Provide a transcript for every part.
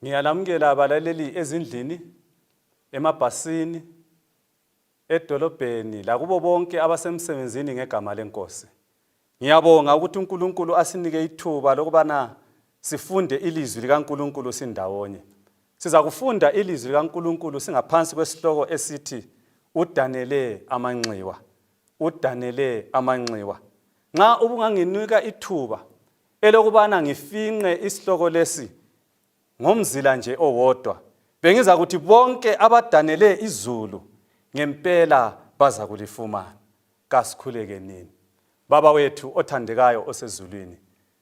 Ngiyalamukela abalaleli ezindlini, emabhasini, edolobheni lakubo bonke abasemsebenzini ngegama lenkosi. Ngiyabonga ukuthi uNkulunkulu asinike ithuba lokubana sifunde ilizwi likaNkulunkulu sindawonye. Sizakufunda ilizwi likaNkulunkulu singaphansi kwesihloko esithi udanele amanxiwa. Udanele amanxiwa. Nxa ubunganginika ithuba Elokubana ngifinqe isihloko lesi ngomzila nje owodwa, bengizakuthi bonke abadanele izulu ngempela bazakulifumana. Kasikhuleke nini. Baba wethu othandekayo osezulwini,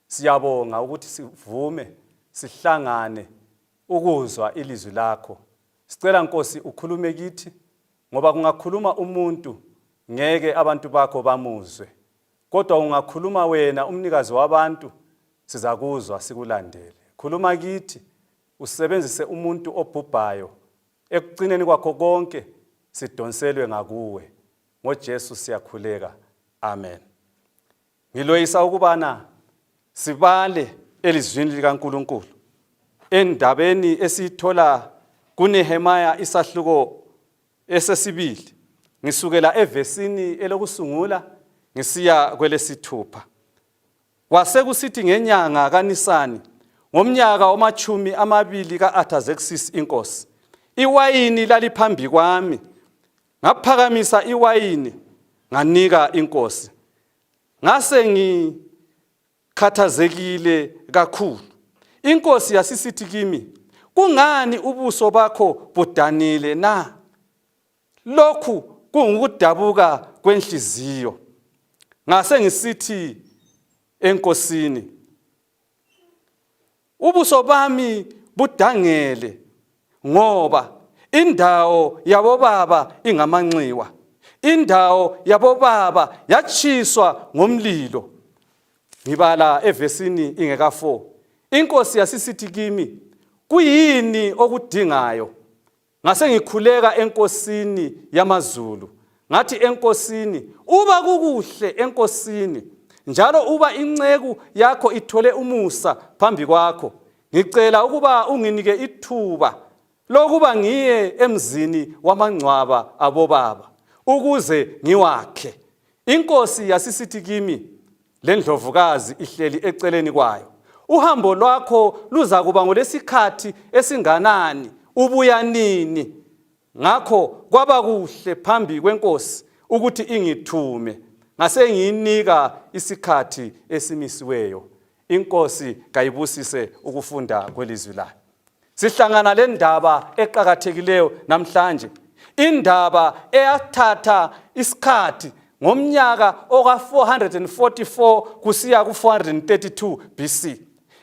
siyabonga ukuthi sivume sihlangane ukuzwa ilizwi lakho. Sicela Nkosi ukhulume kithi ngoba kungakhuluma umuntu ngeke abantu bakho bamuzwe. Kodwa ungakhuluma wena umnikazi wabantu sizakuzwa sikulandele. Khuluma kithi usebenzise umuntu obhubhayo ekucineni kwakho konke sidonselwe ngakuwe. NgoJesu siyakhuleka. Amen. Ngiloyisa ukubana sibale elizwini likaNkuluNkulu endabeni esiyithola kuNehemiah isahluko esesibili ngisukela evesini elokusungula ngisiya kwelesithupha kwasekusithi ngenyanga kanisani ngomnyaka omachumi amabili ka-athazeksis inkosi iwayini laliphambi kwami ngaphakamisa iwayini nganika inkosi ngase ngi khathazekile kakhulu inkosi yasisithi kimi kungani ubuso bakho budanile na lokhu kungukudabuka kwenhliziyo ngase ngisithi enkosini Ubuso bami budangele ngoba indawo yabobaba ingamanxiwa indawo yabobaba yatshiswa ngomlilo ngibala evesini ingeka 4 inkosi yasisithi kimi kuyini okudingayo ngasengikhuleka enkosini yamazulu ngathi enkosini uba kukuhle enkosini njalo uba inceku yakho ithole umusa phambi kwakho ngicela ukuba unginike ithuba lokuba ngiye emzini wamangcwaba abobaba ukuze ngiwakhe inkosi yasisithi kimi lendlovukazi ihleli eceleni kwayo uhambo lwakho luzakuba ngolesikhathi esinganani ubuya nini ngakho kwaba kuhle phambi kwenkosi ukuthi ingithume ngasengiyinika isikhathi esimisiweyo inkosi kayibusise ukufunda kwelizwi layo sihlangana le ndaba eqakathekileyo namhlanje indaba eyathatha isikhathi ngomnyaka oka-444 kusiya ku-432 bc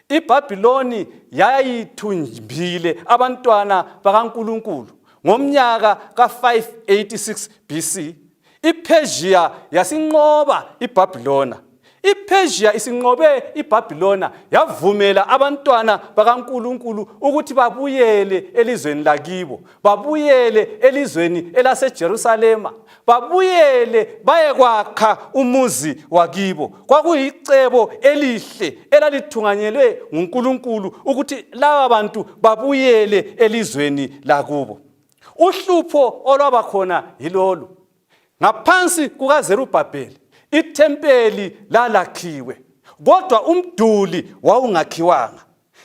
ibhabhiloni yayithumbile abantwana bakankulunkulu ngomnyaka ka-586 bc iPersia yasinqoba iBabilona iPersia isinqobe iBabilona yavumela abantwana bakaNkuluNkulu ukuthi babuyele elizweni lakibo babuyele elizweni elaseJerusalema babuyele bayekwakha umuzi wakibo kwakuyicebo elihle elalithunganyelwe nguNkuluNkulu ukuthi laba bantu babuyele elizweni lakubo Uhlupho olwaba khona yilolu. Ngaphansi kukaZerubhabheli ithempeli lalakhiwe, kodwa umduli wawungakhiwanga.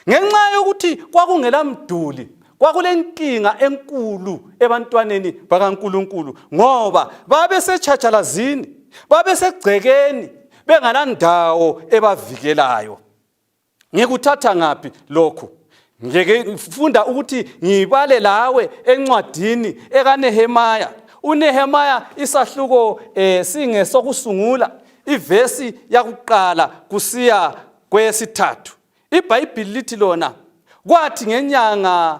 Ngenxa yokuthi kwakungela mduli, kwakulenkinga enkulu ebantwaneni bakaNkulunkulu ngoba babesetshatshalazini, babesegcekeni bengalandawo ebavikelayo. ngikuthatha ngaphi lokhu ngeke ngifunda ukuthi ngibale lawe encwadini ekanehemaya unehemaya isahluko eh, singesokusungula ivesi yakuqala kusiya kwesithathu ibhayibhili lithi lona kwathi ngenyanga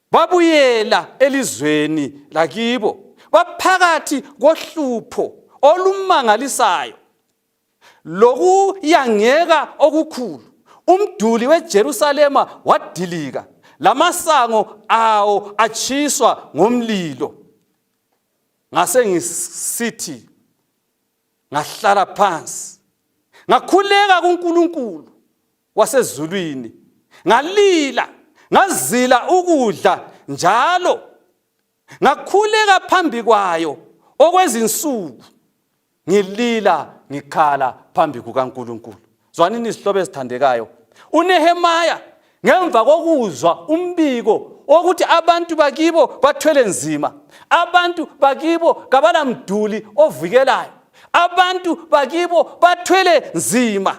babuyela elizweni lakibo baphakathi kohlupho olumangalisayo lokuyangeka okukhulu umduli weJerusalema wadilika lamasango awo atshiswa ngomlilo ngasengisithi ngahlala phansi ngakhuleka kuNkulunkulu wasezulwini ngalila ngazila ukudla njalo ngakhuleka phambi kwayo okwezinsuku ngilila ngikhala phambi kukaNkulunkulu zwanini izihlobo ezithandekayo unehemaya ngemva kokuzwa umbiko wokuthi abantu bakibo bathwele nzima abantu bakibo kabalamduli ovikelayo abantu bakibo bathwele nzima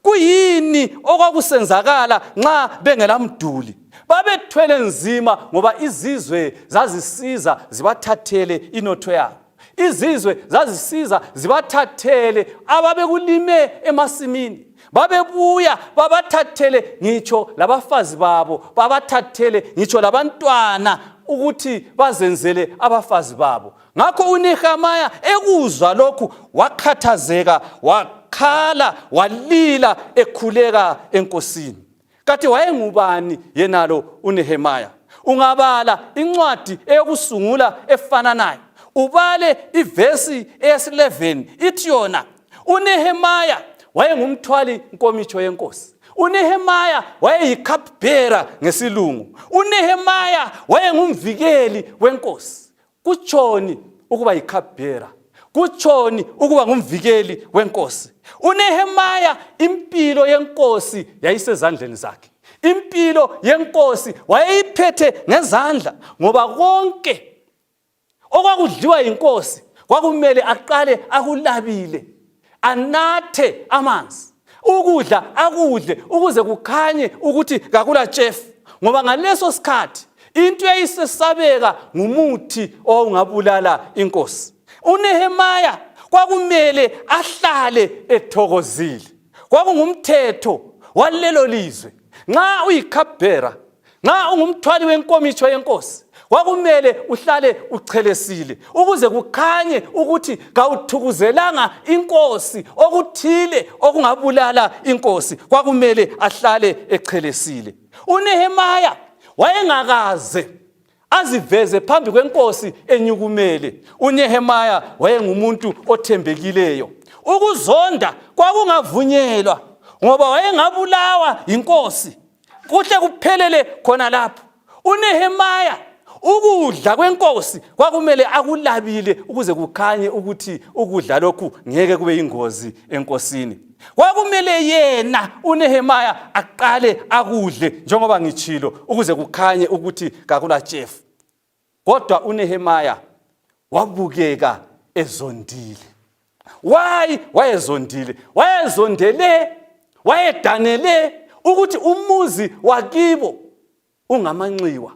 kuyini okwakusenzakala nxa bengelamduli babethwele nzima ngoba izizwe zazisiza zibathathele inotho yabo izizwe zazisiza zibathathele ababekulime emasimini babebuya babathathele ngitsho labafazi babo babathathele ngitsho labantwana ukuthi bazenzele abafazi babo ngakho unehamaya ekuzwa lokhu wakhathazeka wakhala walila ekhuleka enkosini kati wayengubani yenalo uNehemiah ungabala incwadi eyokusungula efananayo ubale ivesi eyesi-11 ithi yona unehemaya wayengumthwali nkomitsho yenkosi unehemaya wayeyicupbearer ngesilungu unehemaya wayengumvikeli wenkosi kutshoni ukuba yikhabhera kutshoni ukuba ngumvikeli wenkosi unehemaya impilo yenkosi yayisezandleni zakhe impilo yenkosi wayeyiphethe ngezandla ngoba konke okwakudliwa yinkosi kwakumele aqale akulabile anathe amanzi ukudla akudle ukuze kukhanye ukuthi kakula tshefu ngoba ngaleso sikhathi into eyayisesabeka ngumuthi owawungabulala inkosi unehemaya kwakumele ahlale ethokozile kwakungumthetho walelo lizwe nxa uyikhabhera nxa ungumthwali wenkomitsho yenkosi kwakumele uhlale uchelesile ukuze kukhanye ukuthi kawuthukuzelanga inkosi okuthile okungabulala inkosi kwakumele ahlale echelesile unehemaya wayengakaze aziveze phambi kwenkosi enyukumele unehemaya wayengumuntu othembekileyo ukuzonda kwakungavunyelwa ngoba wayengabulawa yinkosi kuhle kuphelele khona lapho unehemaya ukudla kwenkosi kwakumele akulabile ukuze kukhanye ukuthi ukudla lokhu ngeke kube yingozi enkosini kwakumele yena uNehemiah aqale akudle njengoba ngitshilo ukuze kukhanye ukuthi kakula chef kodwa uNehemiah wabukeka ezondile why wayezondile wayezondele wayedanele ukuthi umuzi wakibo ungamanxiwa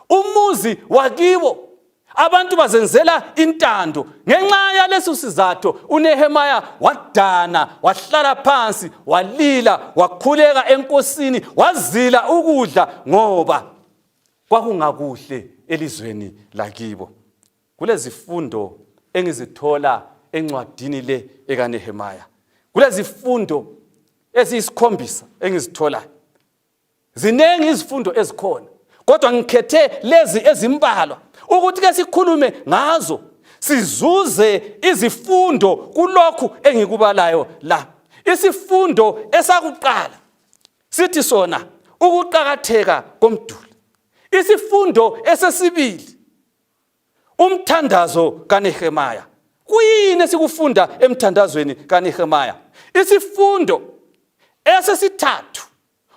umuzi wakibo abantu bazenzela intando ngenxa yaleso sizatho unehemaya wadana wahlala phansi walila wakhuleka enkosini wazila ukudla ngoba kwakungakuhle elizweni lakibo kulezifundo engizithola encwadini le ekanehemaya kulezifundo eziyisikhombisa engizitholayo Ziningi izifundo ezikhona kodwa ngikhethe lezi ezimbalwa ukuthi ke sikhulume ngazo sizuze izifundo kulokhu engikubalayo la. Isifundo esakuqala sithi sona ukuqakatheka komduli. Isifundo esesibili Umthandazo kaNehemiah. Kuyini esikufunda emthandazweni kaNehemiah? Isifundo esesithathu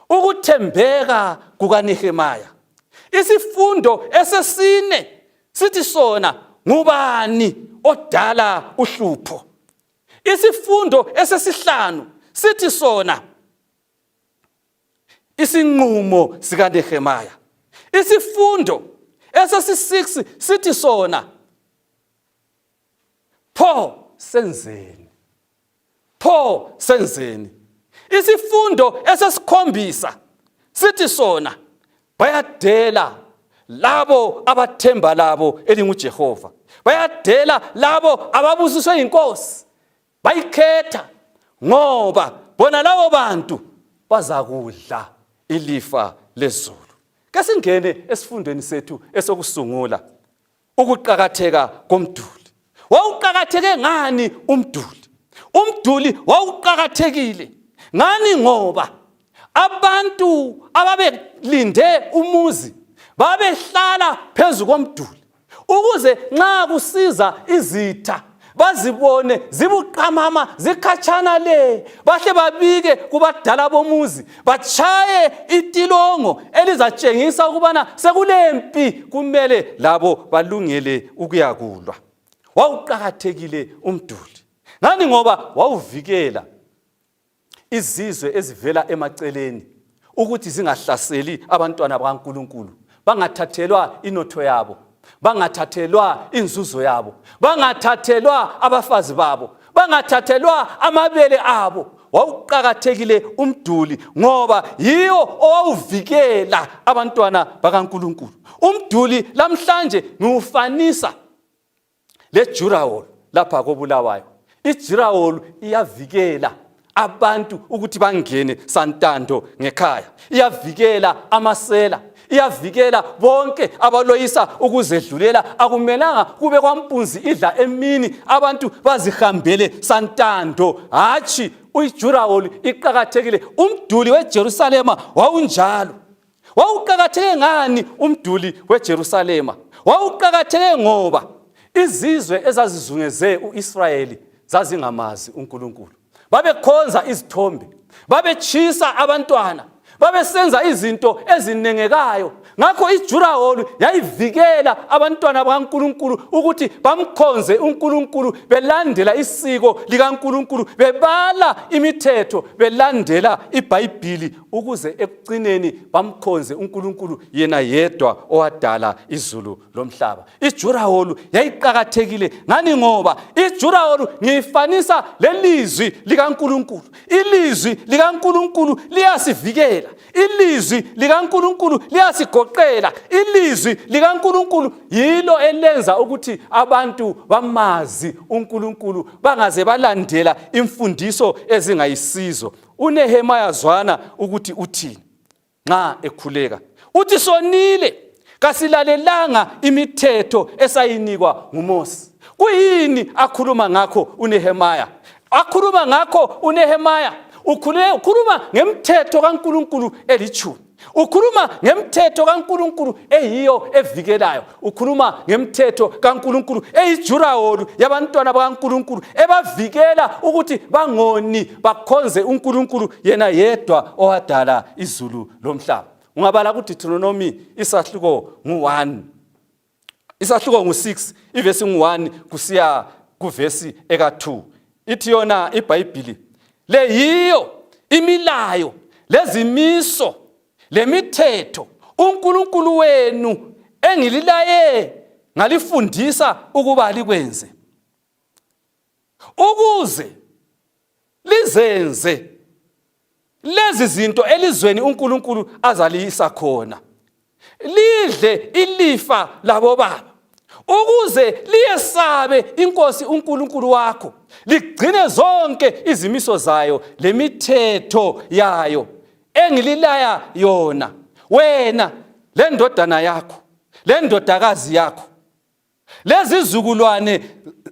ukuthembeka kukaNehemiah. Isifundo esesine sithi sona ngubani odala uhlupho. Isifundo esesihlanu sithi sona isinqumo sikaNehemiah isifundo esesi6 sithi sona pho senzeni pho senzeni isifundo esesikhombisa sithi sona bayadela labo abathemba labo elinguJehova bayadela labo ababusiswe yinkosi bayikhetha ngoba bona labo bantu bazakudla ilifa lezulu kesingene esifundweni sethu esokusungula ukuqakatheka komduli wawuqakatheke ngani umduli umduli wawuqakathekile ngani ngoba abantu ababelinde umuzi babehlala phezu komduli ukuze nxa kusiza izitha bazibone zibuqamama zikhatshana le bahle babike kubadala bomuzi batshaye itilongo elizatshengisa ukubana sekulempi kumele labo balungele ukuyakulwa wawuqakathekile umduli ngani ngoba wawuvikela izizwe ezivela emaceleni ukuthi zingahlaseli abantwana bakaNkulunkulu bangathathelwa inotho yabo bangathathelwa inzuzo yabo bangathathelwa abafazi babo bangathathelwa amabele abo wawuqakathekile umduli ngoba yiwo owawuvikela abantwana bakaNkulunkulu umduli lamhlanje ngiwufanisa lejurawol lapha kobulawayo ijurawol iyavikela abantu ukuthi bangene santando ngekhaya iyavikela amasela iyavikela bonke abaloyisa ukuzedlulela akumelanga kube kwampunzi idla emini abantu bazihambele santando hatshi uyijurawoli iqakathekile umduli wejerusalema wawunjalo Wawuqakatheke ngani umduli weJerusalema? Wawuqakatheke ngoba izizwe ezazizungeze uIsrayeli zazingamazi uNkulunkulu. Babekhonza izithombe, babetshisa abantwana, babesenza izinto ezinengekayo. Ngakho iJuraholu yayivikela abantwana bakaNkulunkulu ukuthi bamkhonze uNkulunkulu belandela isiko likaNkulunkulu, bebala imithetho, belandela iBhayibhili ukuze ekucineni bamkhonze uNkulunkulu yena yedwa owadala izulu lomhlaba ijuraholu yayiqakathekile ngani ngoba ijuraholu ngiyifanisa lelizwi likaNkulunkulu ilizwi likaNkulunkulu liyasivikela ilizwi likaNkulunkulu liyasigoqela ilizwi likaNkulunkulu yilo elenza ukuthi abantu bamazi uNkulunkulu bangaze balandela imfundiso ezingayisizo UNehemaya zwana ukuthi uthini nxa ekhuleka. Uthi sonile kasilalelanga imithetho esayinikwa nguMosi. Kuyini akhuluma ngakho uNehemaya? Akhuluma ngakho uNehemaya ukhuluma ngemthetho kaNkulunkulu elitshumi. ukhuluma ngemthetho kaNkuluNkulu eyiyo evikelayo ukhuluma ngemthetho kaNkuluNkulu eyijuraholu yabantwana bakaNkuluNkulu ebavikela ukuthi bangoni bakhonze uNkuluNkulu yena yedwa owadala izulu lomhlaba ungabala kuDeuteronomy isahluko ngu-1 isahluko ngu-6 ivesi ngu-1 kusiya kuvesi eka-2 ithi yona ibhayibhili le yiyo imilayo lezimiso lemithetho uNkulunkulu wenu engililaye ngalifundisa ukuba likwenze ukuze lizenze lezi zinto elizweni uNkulunkulu azaliyisa khona lidle ilifa labobaba ukuze liyesabe inkosi uNkulunkulu wakho ligcine zonke izimiso zayo lemithetho yayo engililaya yona wena lendodana yakho lendodakazi yakho lezizukulwane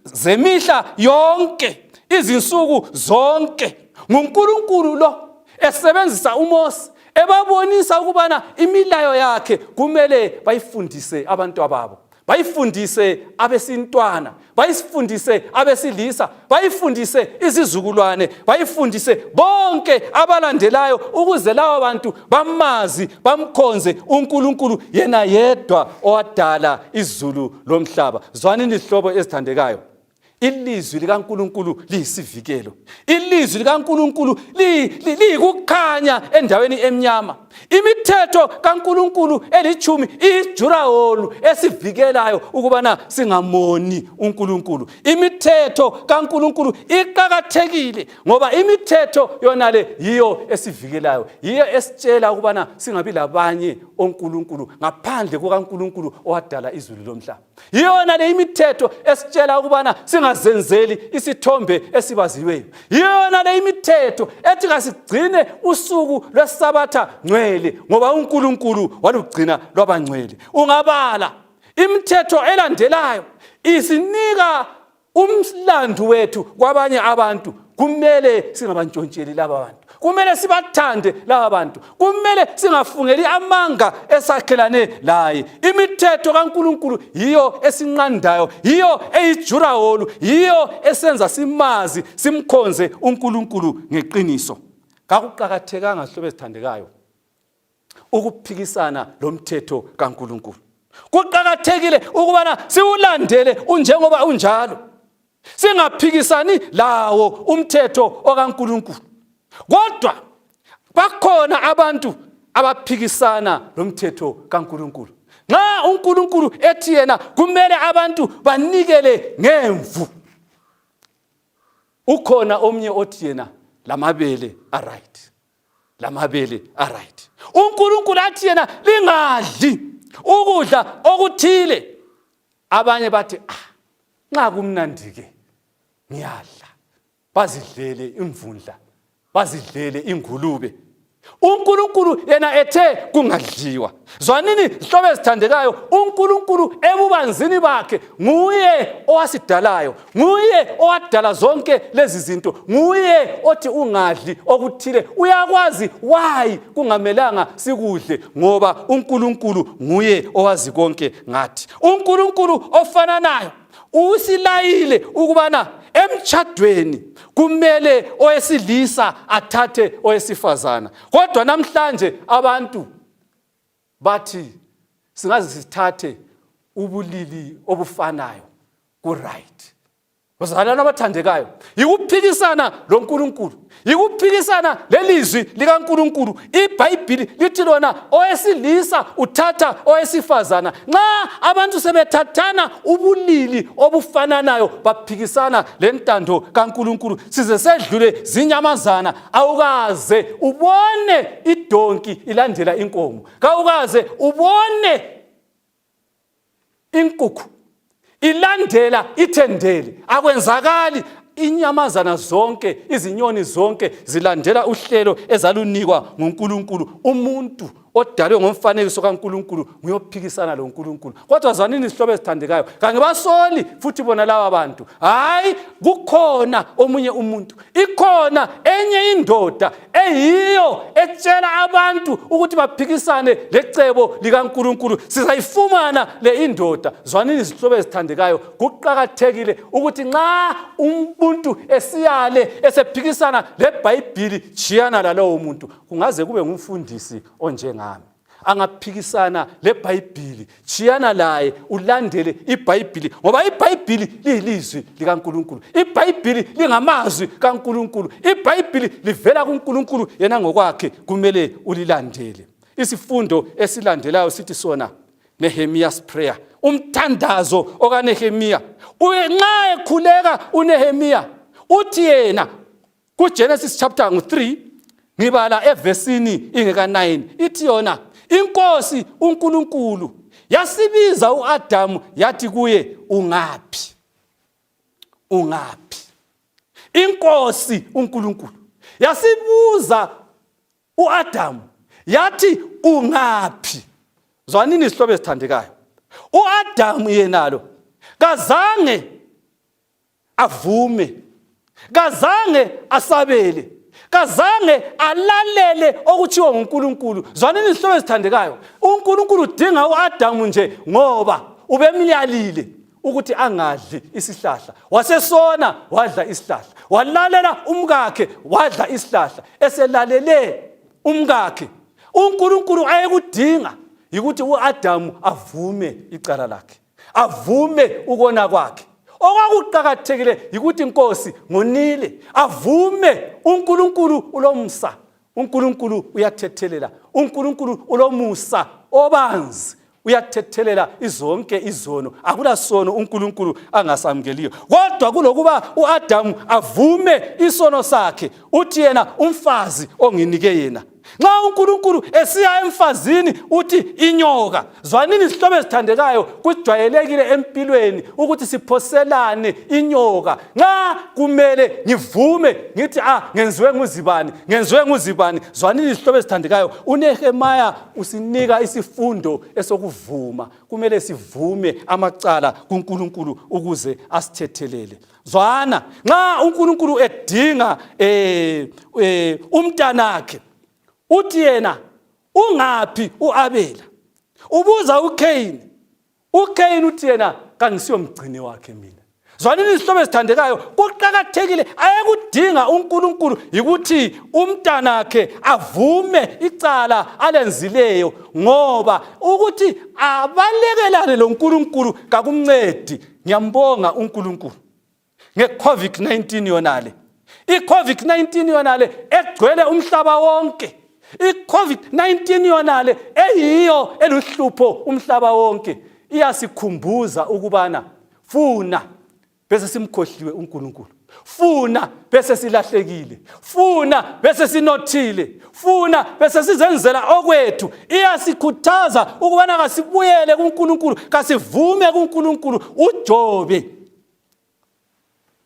zemihla yonke izinsuku zonke nguNkulunkulu lo esebenzisa uMose ebabonisa ukubana imilayo yakhe kumele bayifundise abantwababo bayifundise abesintwana bayifundise abesilisa bayifundise izizukulwane bayifundise bonke abalandelayo ukuze laba bantu bamazi bamkhonze uNkulunkulu yena yedwa owadala izulu lomhlaba zwanini izihlobo ezithandekayo ilizwi likaNkuluNkulu liyisivikelo ilizwi likaNkuluNkulu liyikukhanya endaweni emnyama imithetho kaNkuluNkulu elithumi iyijuraholu esivikelayo ukubana singamoni uNkuluNkulu imithetho kaNkuluNkulu iqakathekile ngoba imithetho yonale yiyo esivikelayo yiyo esitshela ukubana singabi labanye oNkuluNkulu ngaphandle kukaNkuluNkulu owadala izulu lomhlaba yiyona le imithetho esitshela ukubana singazenzeli isithombe esibaziweyo yiyona le imithetho ethi kasigcine usuku lwesabatha ngcwele ngoba unkulunkulu walugcina lwabangcwele ungabala imithetho elandelayo isinika umlandu wethu kwabanye abantu kumele singabantshontsheli laba bantu kumele sibathande laba bantu kumele singafungeli amanga esakhelane laye imithetho kaNkuluNkulu yiyo esinqandayo yiyo eyijurawolu yiyo esenza simazi simkhonze uNkuluNkulu ngeqiniso kakuqakathekanga hlobo ezithandekayo ukuphikisana lomthetho kaNkuluNkulu kuqakathekile ukubana siwulandele unjengoba unjalo singaphikisani lawo umthetho okaNkuluNkulu kodwa bakhona abantu abaphikisana lomthetho kaNkuluNkulu nxa uNkuluNkulu ethi yena kumele abantu banikele ngemvu ukhona omnye othi yena lamabele aright lamabele aright unkulunkulu athi yena lingadli ukudla okuthile abanye bathi ah nxa kumnandike ngiyadla bazidlele imvundla bazidlele ingulube unkulunkulu yena ethe kungadliwa zwanini zihlobo ezithandekayo unkulunkulu ebubanzini bakhe nguye owasidalayo nguye owadala zonke lezi zinto nguye othi ungadli okuthile uyakwazi wayi kungamelanga sikudle ngoba unkulunkulu nguye owazi konke ngathi unkulunkulu ofananayo usilayile ukubana emtshadweni kumele owesilisa athathe owesifazana kodwa namhlanje abantu bathi singaze sithathe ubulili obufanayo kuright bazalwana abathandekayo yikuphikisana lonkulunkulu yikuphikisana lelizwi likankulunkulu ibhayibhili lithi lona owesilisa uthatha owesifazana nxa abantu sebethathana ubulili obufananayo baphikisana lentando kankulunkulu size sedlule zinyamazana awukaze ubone idonki ilandela inkomo kawukaze ubone inkukhu ilandela ithendele akwenzakali inyamazana zonke izinyoni zonke zilandela uhlelo ezalunikwa nguNkulunkulu umuntu odalwe ngomfanekiso kaNkulunkulu nguyophikisana loNkulunkulu kodwa zwanini isihlobo ezithandekayo kangibasoli futhi bona laba bantu hayi kukhona omunye umuntu ikhona enye indoda eyiyo etshela abantu ukuthi baphikisane lecebo likaNkulunkulu sizayifumana le indoda zwanini izihlobo ezithandekayo kuqakathekile ukuthi nxa umuntu esiyale esephikisana lebhayibhili jiyana lalowo muntu kungaze kube ngumfundisi onjengami angaphikisana lebhayibhili chiyana laye ulandele ibhayibhili ngoba ibhayibhili liyilizwi likankulunkulu ibhayibhili lingamazwi kankulunkulu ibhayibhili livela kunkulunkulu yena ngokwakhe kumele ulilandele isifundo esilandelayo sithi sona nehemiya's prayer umthandazo okanehemiya nxa ekhuleka unehemiya uthi yena kuGenesis chapter ngu-3 ngibala evesini ingeka-9 ithi yona inkosi uNkulunkulu yasibiza uAdamu yathi kuye ungaphi ungaphi inkosi uNkulunkulu yasibuza uAdamu yathi ungaphi zwanini isihlobo esithandekayo uAdamu yenalo kazange avume kazange asabele kazange alalele okuthiwa nguNkulunkulu zwanini izihlobo ezithandekayo uNkulunkulu udinga uAdamu nje ngoba ubemyalile ukuthi angadli isihlahla wasesona wadla isihlahla walalela umkakhe wadla isihlahla eselalele umkakhe uNkulunkulu ayekudinga yikuthi uAdamu avume icala lakhe avume ukona kwakhe okwakuqakathekile yikuthi inkosi ngonile avume unkulunkulu ulomsa unkulunkulu uyathethelela unkulunkulu ulomusa obanzi uyathethelela izonke izono akula sono unkulunkulu angasamukeliyo kodwa kulokuba uadamu avume isono sakhe uthi yena umfazi onginike yena nxa unkulunkulu esiya emfazini uthi inyoka zwanini izihlobo ezithandekayo kujwayelekile empilweni ukuthi siphoselane inyoka nxa kumele ngivume ngithi ah ngenziwe nguzibani ngenziwe nguzibani zwanini izihlobo ezithandekayo unehemaya usinika isifundo esokuvuma kumele sivume amacala kunkulunkulu ukuze asithethelele zwana nxa uNkulunkulu edinga eh, eh umntanakhe uthi yena ungaphi uAbela ubuza uKain uKain uthi yena kangisiyo mgcini wakhe mina zwanini izihlobo ezithandekayo kuqakathekile ayekudinga uNkulunkulu yikuthi umntanakhe avume icala alenzileyo ngoba ukuthi abalekelane loNkulunkulu kakumncedi Ngiyambonga uNkulunkulu ngeCovid-19 yonale. ICovid-19 yonale egcwele umhlaba wonke. ICovid-19 yonale eyiyo eluhlupho umhlaba wonke. Iyasikhumbuza ukubana funa bese simkhohliwe uNkulunkulu. funa bese silahlekile funa bese sinothile funa bese sizenzela okwethu iyasikhuthaza ukubana kasibuyele kuNkulunkulu kasivume kuNkulunkulu uJobe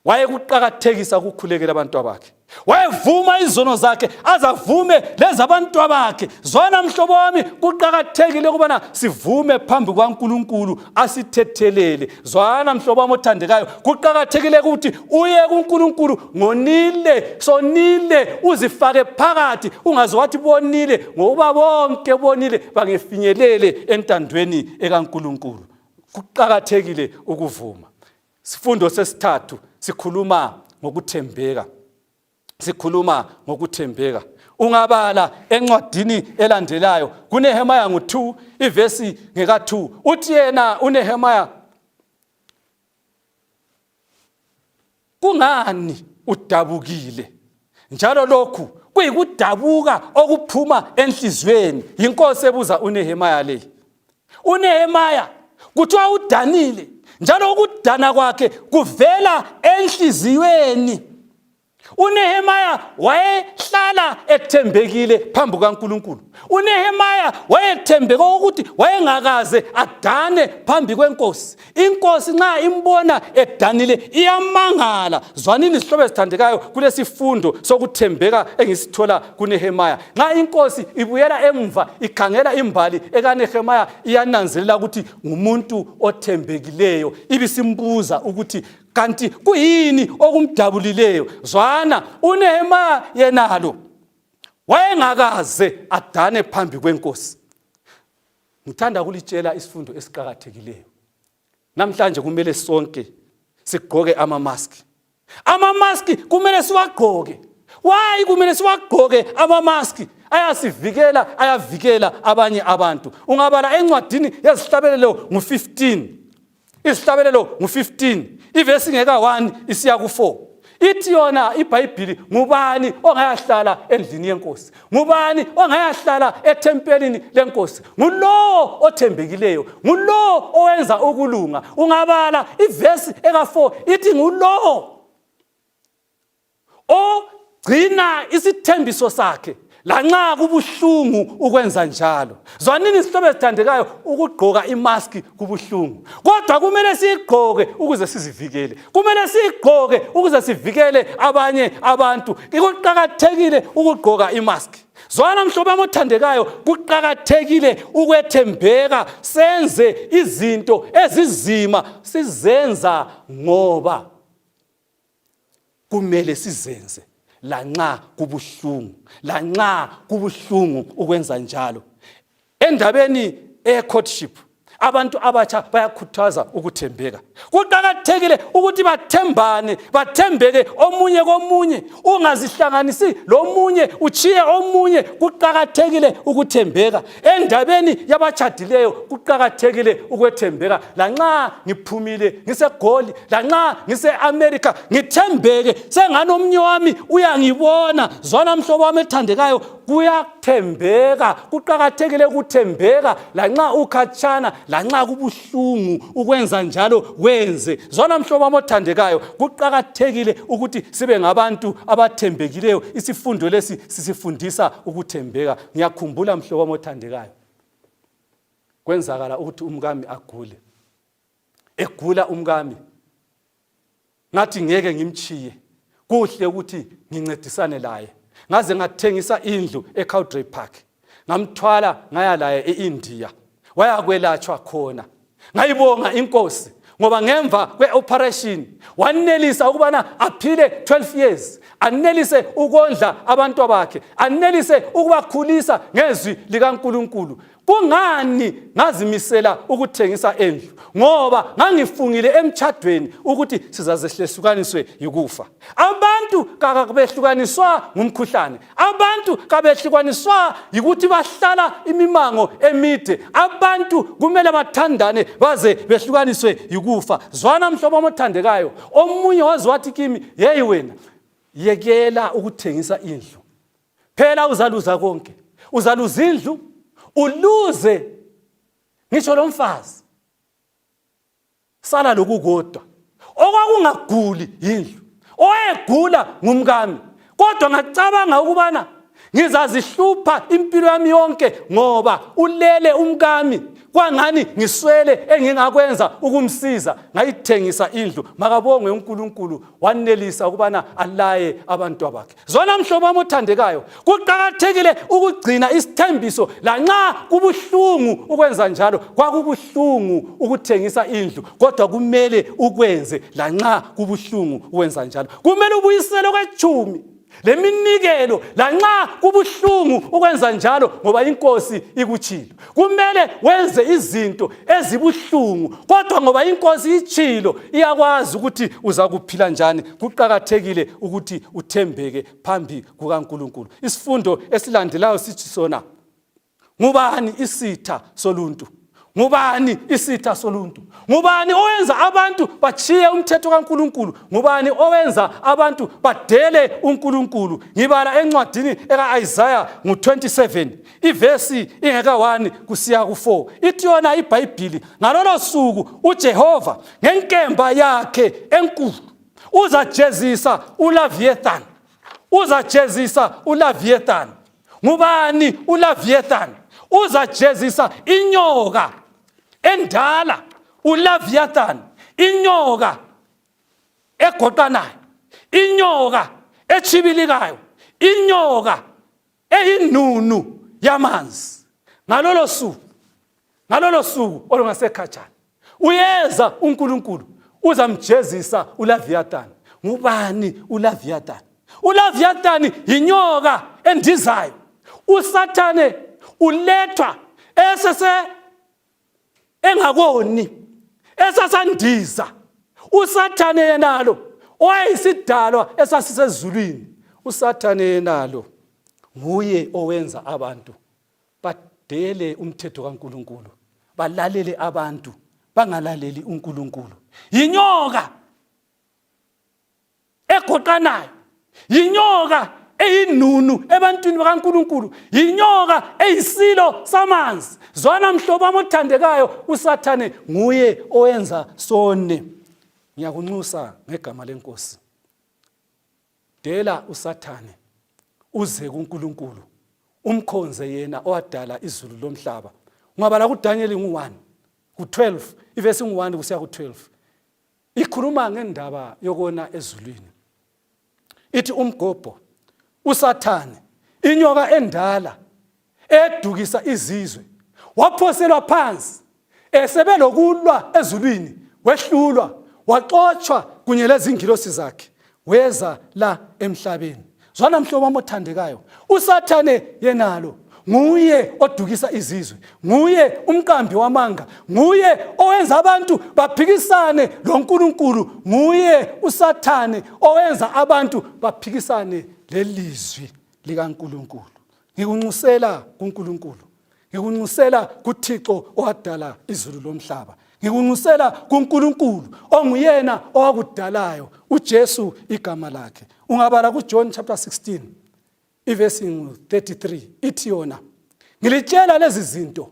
wayekuqakathekisa ukukhulekela abantu abakhe wayevuma izono zakhe azavume lezabantu abakhe zona mhlobo wami kuqakathekile ukubana sivume phambi kwaNkulunkulu asithethelele zwana mhlobo wami othandekayo kuqakathekile ukuthi uye kuNkulunkulu ngonile sonile uzifake phakathi ungaze wathi bonile ngokuba bonke bonile bangefinyelele entandweni ekaNkulunkulu kuqakathekile ukuvuma sifundo sesithathu sikhuluma ngokuthembeka sikhuluma ngokuthembeka ungabala encwadini elandelayo kunehemaya ngu-2 ivesi ngeka-2 uthi yena unehemaya kungani udabukile njalo lokhu kuyikudabuka okuphuma enhliziyweni yinkosi ebuza unehemaya le unehemaya kuthiwa udanile njalo ukudana kwakhe kuvela enhliziyweni UNehemaya wayehlala ethembekile phambi kaNkulunkulu. UNehemaya wayethembeka ukuthi wayengakaze adane phambi kwenkosi. Inkosi nxa imbona edanile iyamangala. Zwanini sihlobo esithandekayo kulesifundo sokuthembeka engisithola kuNehemaya. Nxa inkosi ibuyela emva ikhangela imbali ekaNehemaya iyananzelela ukuthi ngumuntu othembekileyo. Ibisimbuza ukuthi kanti kuyini okumdabulileyo zwana unehemaya yenalo wayengakaze adane phambi kwenkosi ngithanda kulitshela isifundo esiqakathekileyo namhlanje kumele sonke sigqoke amamaski amamaski kumele siwagqoke wayi kumele siwagqoke amamaski ayasivikela ayavikela abanye abantu ungabala encwadini yezihlabelelo ngu-15 izihlabelelo ngu-15 ivesi ngeka 1 isiya ku-4 ithi yona ibhayibhili ngubani ongayahlala endlini yenkosi ngubani ongayahlala ethempelini lenkosi ngulowo othembekileyo ngulowo owenza ukulunga ungabala ivesi eka-4 ithi ngulowo ogcina isithembiso sakhe lanxa kubuhlungu ukwenza njalo zwanini isihlobo ezithandekayo ukugqoka imaski kubuhlungu kodwa kumele siyigqoke ukuze sizivikele kumele siyigqoke ukuze sivikele abanye abantu kuqakathekile ukugqoka imaski zwana mhlobo wami othandekayo kuqakathekile ukwethembeka senze izinto ezizima sizenza ngoba kumele sizenze lanxa kubuhlungu lanxa kubuhlungu ukwenza njalo endabeni eye courtship abantu abatsha bayakhuthaza ukuthembeka kuqakathekile ukuthi bathembane bathembeke omunye komunye ungazihlanganisi lomunye utshiye omunye kuqakathekile ukuthembeka endabeni yabatshadileyo kuqakathekile ukwethembeka lanxa ngiphumile ngisegoli lanxa ngise-amerika ngithembeke sengani omnye wami uyangibona zwana mhlobo wami ethandekayo kuyathembeka kuqakathekile ukuthembeka lanxa ukhatshana lanxa kubuhlungu ukwenza njalo wenze zwana mhlobo wami othandekayo kuqakathekile ukuthi sibe ngabantu abathembekileyo isifundo lesi sisifundisa ukuthembeka ngiyakhumbula mhlobo wami othandekayo kwenzakala ukuthi umkami agule egula umkami ngathi ngeke ngimchiye kuhle ukuthi ngincedisane laye ngaze ngathengisa indlu eCowdray Park ngamthwala ngaya laye eIndia wayakwelatshwa khona ngayibonga inkosi ngoba ngemva kwe-operation wanelisa ukubana aphile 12 years anelise ukondla abantu bakhe anelise ukubakhulisa ngezwi likaNkuluNkulu kungani ngazimisela ukuthengisa endlu ngoba ngangifungile emtshadweni ukuthi sizazehlesukaniswe yikufa abantu kabehlukaniswa ngumkhuhlane abantu kabehlukaniswa yikuthi bahlala imimango emide abantu kumele bathandane baze behlukaniswe yikufa zwana mhlobo omothandekayo omunye waze wathi kimi yeyi wena yekela ukuthengisa indlu phela uzaluza konke uzaluza indlu uluze ngisho lo mfazi sala lokukodwa okwakungaguli yindlu owayegula ngumkami kodwa ngacabanga ukubana ngizazihlupha impilo yami yonke ngoba ulele umkami kwangani ngiswele engingakwenza ukumsiza ngayithengisa indlu makabongwe uNkulunkulu wanelisa ukubana alaye abantu bakhe Zwana mhlobo wami othandekayo, kuqakathekile ukugcina isithembiso lanxa kubuhlungu ukwenza njalo. Kwakubuhlungu ukuthengisa indlu, kodwa kumele ukwenze lanxa kubuhlungu ukwenza njalo. Kumele ubuyisele okwetshumi leminikelo lanxa kubuhlungu ukwenza njalo ngoba inkosi ikutshilo. kumele wenze izinto ezibuhlungu kodwa ngoba inkosi itshilo iyakwazi ukuthi uzakuphila njani kuqakathekile ukuthi uthembeke phambi kukaNkuluNkulu isifundo esilandelayo sithi sona ngubani isitha soluntu ngubani isitha soluntu ngubani owenza abantu bachiye umthetho kaNkuluNkulu ngubani owenza abantu badele uNkuluNkulu ngibala encwadini eka Isaiah ngo 27 ivesi ingekawani kusiya ku-4 ithi yona ibhayibhili ngalolo suku ujehova ngenkemba yakhe enkulu uzajezisa ulaviethan uzajezisa ulaviethan ngubani ulaviethan uzajezisa inyoka endala ulaviathan inyoka egoqanayo inyoka echibilikayo inyoka eyinunu yamanzi ngalolo suku ngalolo suku olungasekhatshana uyeza uNkulunkulu uzamjezisa uLaviathan ngubani uLaviathan uLaviathan yinyoka endizayo usathane ulethwa esese engakoni esasandiza usathane yenalo owayeyisidalwa esasisezulwini usathane yenalo nguye owenza abantu badele umthetho kaNkuluNkulu balalele abantu bangalaleli uNkuluNkulu yinyoka egoqanayo yinyoka eyinunu ebantwini bakaNkuluNkulu yinyoka eyisilo samanzi zwana mhlobo amothandekayo usathane nguye owenza sone ngiyakunxusa ngegama lenkosi dela usathane uze kuNkuluNkulu umkhonze yena owadala izulu lomhlaba ungabala kuDaniel ngu1 ku12 ivesi ngu1 kusiya ku12 ikhuluma ngendaba yokona ezulwini ithi umgobho usathane inyoka endala edukisa izizwe waphoselwa phansi esebelokulwa ezulwini wehlulwa waxotshwa kunye lezingilosi zakhe weza la emhlabeni zwana mhlobo wami othandekayo usathane yenalo nguye odukisa izizwe nguye umqambi wamanga nguye owenza abantu baphikisane loNkulunkulu nguye usathane owenza abantu baphikisane lelizwi likaNkulunkulu ngikunxusela kuNkulunkulu ngikunxusela kuthixo owadala izulu lomhlaba ngikunxusela kuNkulunkulu onguyena owakudalayo uJesu igama lakhe ungabala kuJohn chapter 16 iverse 33 ithi yona ngilitshela lezi zinto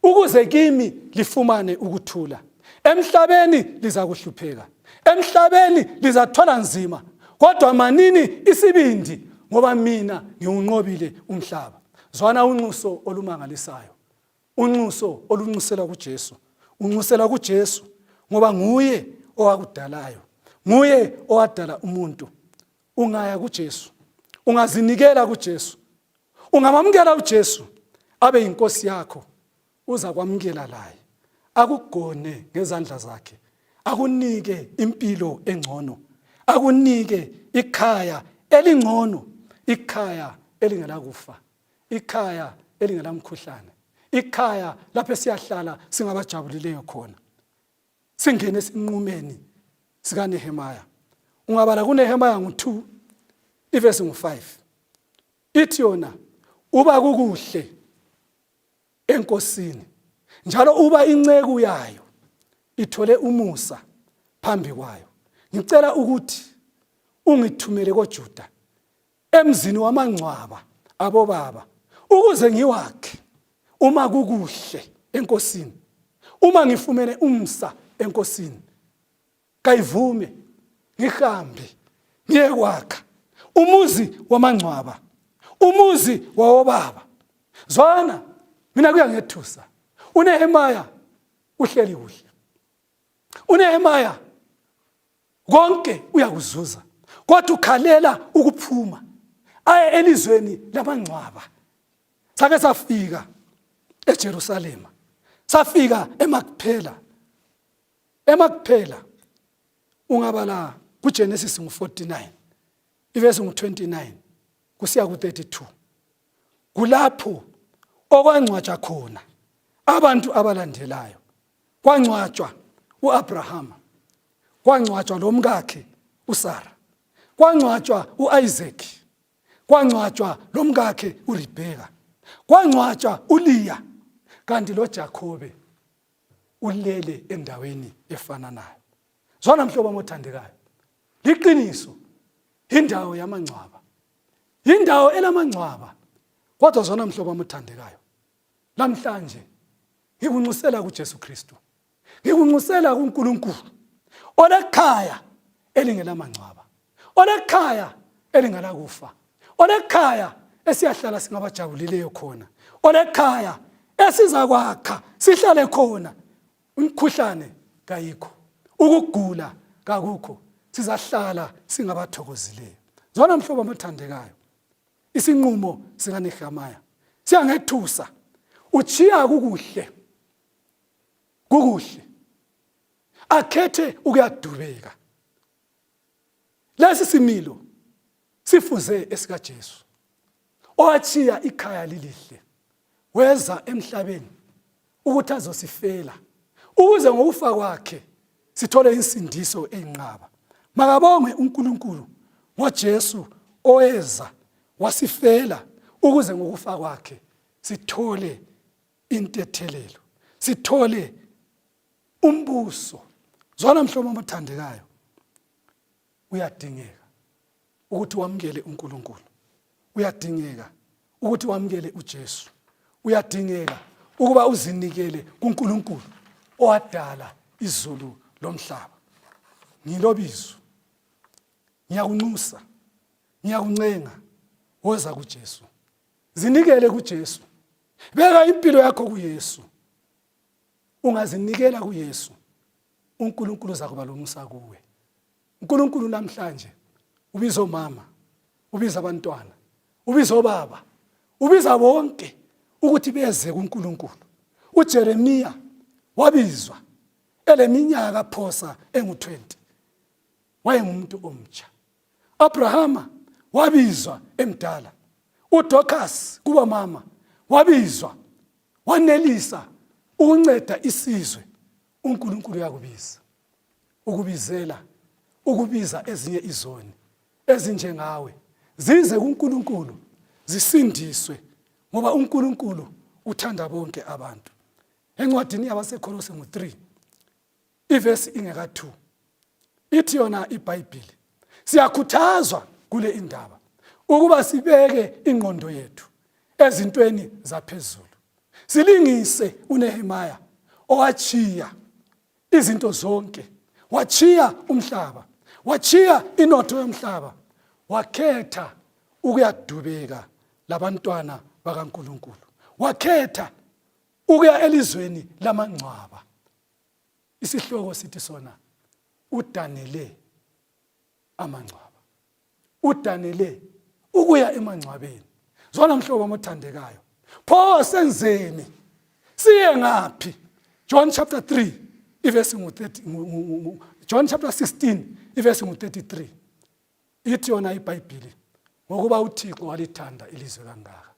ukuze kimi lifumane ukuthula emhlabeni lizakuhlupheka emhlabeni lizathwala nzima kodwa manini isibindi ngoba mina ngiwunqobile umhlaba zwana unxuso olumangalisayo unxuso olunxusela kuJesu unxusela kuJesu ngoba nguye owakudalayo nguye owadala umuntu ungaya kuJesu ungazinikela kuJesu ungamamukela uJesu abe yinkosi yakho uza kwamukela laye akugone ngezandla zakhe akunike impilo engcono akunike ikhaya elingcono ikhaya elingelakufa ikhaya elingelamkhuhlane ikhaya lapho siyahlala singabajabulileyo khona singene esinqumeni sikanehemaya ungabala kunehemaya ngu-2 ivesi ngu-5 ithi yona uba kukuhle enkosini njalo uba inceku yayo ithole umusa phambi kwayo ngicela ukuthi ungithumele kojuda emzini wamangcwaba abobaba ukuze ngiwakhe uma kukuhle enkosini uma ngifumene umsa enkosini kayivume ngihambe ngiyekwakha umuzi wamangcwaba umuzi wawobaba zwana mina kuyangethusa unehemaya uhleli kuhle unehemaya konke uyakuzuza kodwa ukhalela ukuphuma aye elizweni lamangcwaba sake safika eJerusalema safika eMakphela emakuphela ungabala kuGenesis ngu49 ivesi ngu29 kusiya ku32 kulapho okwangcwatsha khona abantu abalandelayo kwangcwatshwa uAbrahama kwangcwatshwa lomkakhe uSara kwangcwatshwa uIsaac kwangcwatshwa lomkakhe uRebeka kwangcwatshwa uLeah kanti loJakobe ulele endaweni efananayo zwana mhlobo mothandekayo liqiniso indawo yamangcwaba indawo elamangcwaba kodwa zwana mhlobo mothandekayo namhlanje ngikunxusela kuJesu Kristu ngikunxusela kuNkulunkulu olekhaya elingelamangcwaba olekhaya elingalakufa olekhaya esiyahlala singabajabulileyo khona olekhaya esizakwakha sihlale khona umkhuhlane kayikho ukugula kakukho sizahlala singabathokozileyo zona mhlobo amathandekayo isinqumo sikanehamiya siyangethusa uchiya kukuhle kukuhle akhethe ukuyadubeka Lesi similo sifuze esikaJesu owatshiya ikhaya lilihle weza emhlabeni ukuthi azosifela ukuze ngokufa kwakhe sithole insindiso eyinqaba makabongwe uNkulunkulu ngoJesu oweza wasifela ukuze ngokufa kwakhe sithole intethelelo sithole umbuso zwana mhlobo amathandekayo uyadingeka ukuthi wamukele uNkulunkulu uyadingeka ukuthi wamukele uJesu uyadingeka ukuba uzinikele kuNkulunkulu owadala izulu lomhlaba ngilobizo ngiyakunxusa ngiyakuncenga woza kuJesu zinikele kuJesu beka impilo yakho kuYesu ungazinikela kuyesu unkulunkulu uzakuba lomusa kuwe unkulunkulu namhlanje ubiza omama ubiza abantwana ubiza obaba ubiza bonke ukuthi beze kunkulunkulu ujeremiya wabizwa eleminyaka phosa engu-20 wayengumuntu omtsha Abrahama wabizwa emdala uDorcas kuba mama wabizwa wanelisa ukunceda isizwe uNkulunkulu uyakubiza ukubizela ukubiza ezinye izoni ezinjengawe zize kuNkulunkulu zisindiswe ngoba uNkulunkulu uthanda bonke abantu encwadini yabaseKholose ngo-3 ivesi ingeka 2 ithi yona ibhayibhili siyakhuthazwa kule indaba ukuba sibeke ingqondo yethu ezintweni zaphezulu silingise unehemaya owachiya izinto zonke wachiya umhlaba wachiya inotho yomhlaba wakhetha ukuyadubeka labantwana bakaNkuluNkulu wakhetha ukuya elizweni lamangcwaba isihloko sithi sona udanele amangcwaba udanele ukuya emangcwabeni zona mhlobo omothandekayo pho senzeni siye ngaphi john chapter 3 ivesi ngu-30 john chapter 16 ivesi ngu-33 ithi yona ibhayibhili ngokuba uthixo walithanda ilizwe kangaka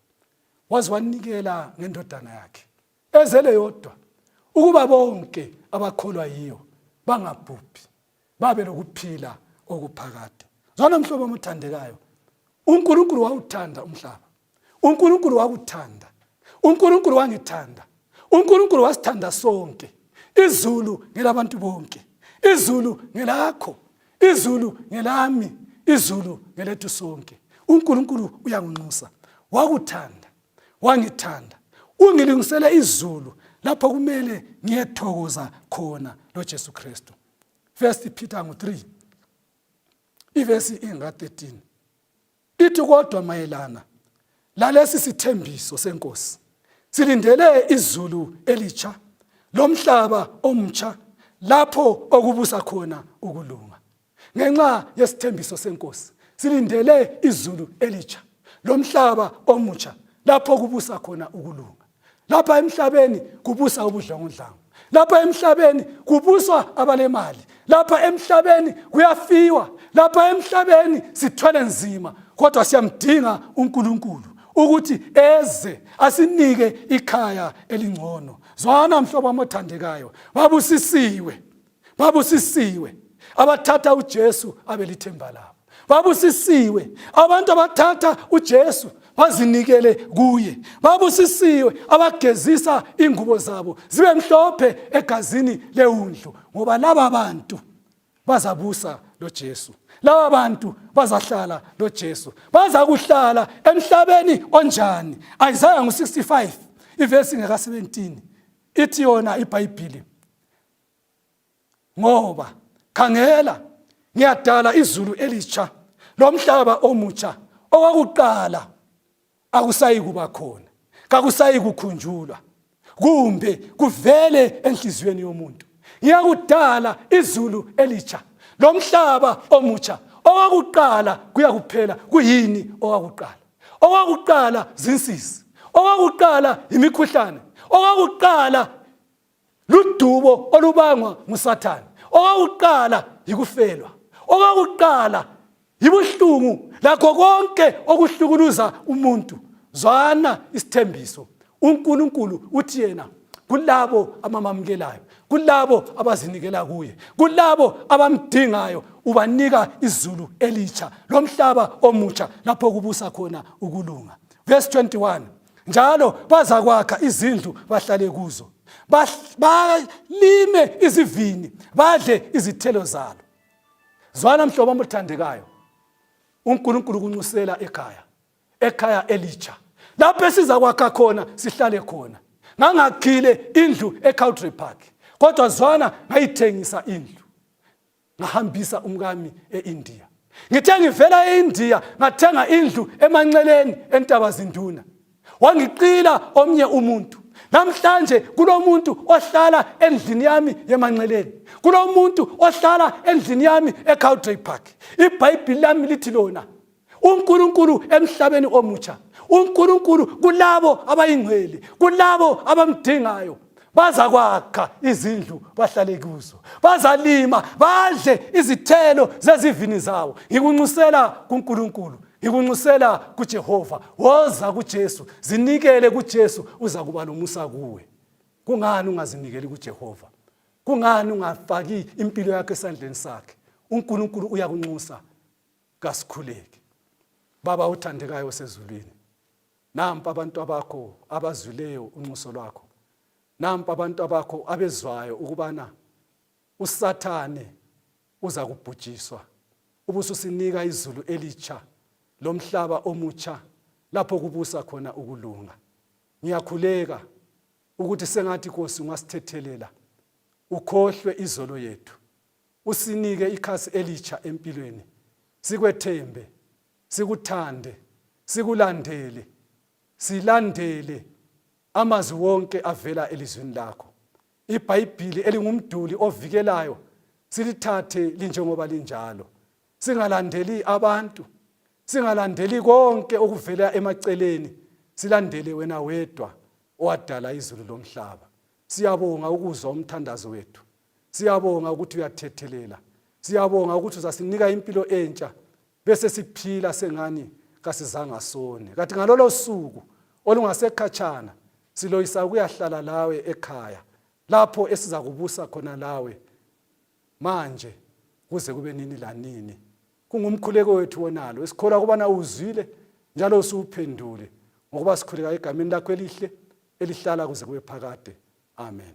waze wanikela ngendodana yakhe ezele yodwa ukuba bonke abakholwa yiyo bangabhubhi babe lokuphila okuphakade zwana mhlobo omuthandekayo unkulunkulu wawuthanda umhlaba unkulunkulu wakuthanda unkulunkulu wangithanda unkulunkulu wasithanda sonke izulu ngelabantu bonke izulu ngelakho izulu ngelami izulu ngelethu sonke unkulunkulu uyangunxusa wakuthanda wangithanda ungilungisele izulu lapho kumele ngiyethokoza khona loJesu Kristu First Peter ngo-3 ivesi inga-13 ithi kodwa mayelana lalesi sithembiso senkosi silindele izulu elitsha lomhlaba omtsha lapho okubusa khona ukulunga ngenxa yesithembiso senkosi silindele izulu elitsha lomhlaba omutsha lapho kubusa khona ukulunga lapha emhlabeni kubusa ubudlongondlango lapha emhlabeni kubuswa abalemali lapha emhlabeni kuyafiwa lapha emhlabeni sithwele nzima kodwa siyamdinga uNkulunkulu ukuthi eze asinike ikhaya elingcono zwana mhlobo omothandekayo babusisiwe babusisiwe abathatha uJesu abelithemba labo babusisiwe abantu abathatha uJesu bazinikele kuye babusisiwe abagezisa ingubo zabo zibe mhlophe egazini lewundlu ngoba laba bantu bazabusa loJesu laba bantu bazahlala loJesu bazakuhlala emhlabeni onjani Isaiah ngu65 ivesi ngeka 17 ithi yona ibhayibhili ngoba khangela ngiyadala izulu elitsha lomhlaba omutsha owakuqala akusayi kuba khona kakusayi kukhunjulwa kumbe kuvele enhliziyweni yomuntu ngiyakudala izulu elitsha lomhlaba omutsha owakuqala kuyakuphela kuyini owakuqala owakuqala zinsizi owakuqala yimikhuhlane owakuqala ludubo olubangwa ngusathane okokuqala yikufelwa okokuqala yibuhlungu lakho konke okuhlukuluza umuntu zwana isithembiso unkulunkulu uthi yena kulabo amamamukelayo kulabo abazinikela kuye kulabo abamdingayo ubanika izulu elitsha lomhlaba omutsha lapho kubusa khona ukulunga verse 21 njalo bazakwakha izindlu bahlale kuzo balime izivini badle izithelo zalo zwana mhlobo omuthandekayo uNkulunkulu kunxusela ekhaya ekhaya elitsha lapho esizakwakha khona sihlale khona ngangakhile indlu eCowdray Park kodwa zwana ngayithengisa indlu ngahambisa umkami e-India ngithe ngivela e-India ngathenga indlu emanceleni entaba zinduna wangiqila omnye umuntu namhlanje kulomuntu ohlala endlini yami yemanceleni kulomuntu ohlala endlini yami eCowdray Park ibhayibhili lami lithi lona uNkulunkulu emhlabeni omutsha uNkulunkulu kulabo abayingcwele kulabo abamdingayo bazakwakha izindlu bahlale kuzo bazalima badle izithelo zezivini zawo ngikunxusela kuNkulunkulu ngikunxusela kuJehova woza kuJesu zinikele kuJesu uza kuba lomusa kuwe kungani ungazinikeli kuJehova kungani ungafaki impilo yakho esandleni sakhe uNkulunkulu uyakunxusa kasikhuleke baba othandekayo osezulwini nampa abantu abakho abazwileyo unxuso lwakho nampa abantu abakho abezwayo ukubana usathane uza kubhujiswa ubususinika izulu elitsha lomhlaba omutsha lapho kubusa khona ukulunga ngiyakhuleka ukuthi sengathi kosi ungasithethelela ukhohlwe izolo yethu usinike ikhasi elitsha empilweni sikwethembe sikuthande sikulandele silandele amazwi wonke avela elizwini lakho ibhayibhili elingumduli ovikelayo silithathe linjengoba linjalo singalandeli abantu singalandeli konke okuvela emaceleni silandele wena wedwa owadala izulu lomhlaba siyabonga ukuzwa umthandazo wethu siyabonga ukuthi uyathethelela siyabonga ukuthi uzasinika impilo entsha bese siphila sengani kasizanga sone kathi ngalolo suku olungasekhatshana siloyisa ukuyahlala lawe ekhaya lapho esiza kubusa khona lawe manje kuze kube nini lanini kungumkhuleko wethu wonalo esikholwa ukubana uzwile njalo usuwuphendule ngokuba sikhuleka egameni lakho elihle elihlala kuze kube phakade amen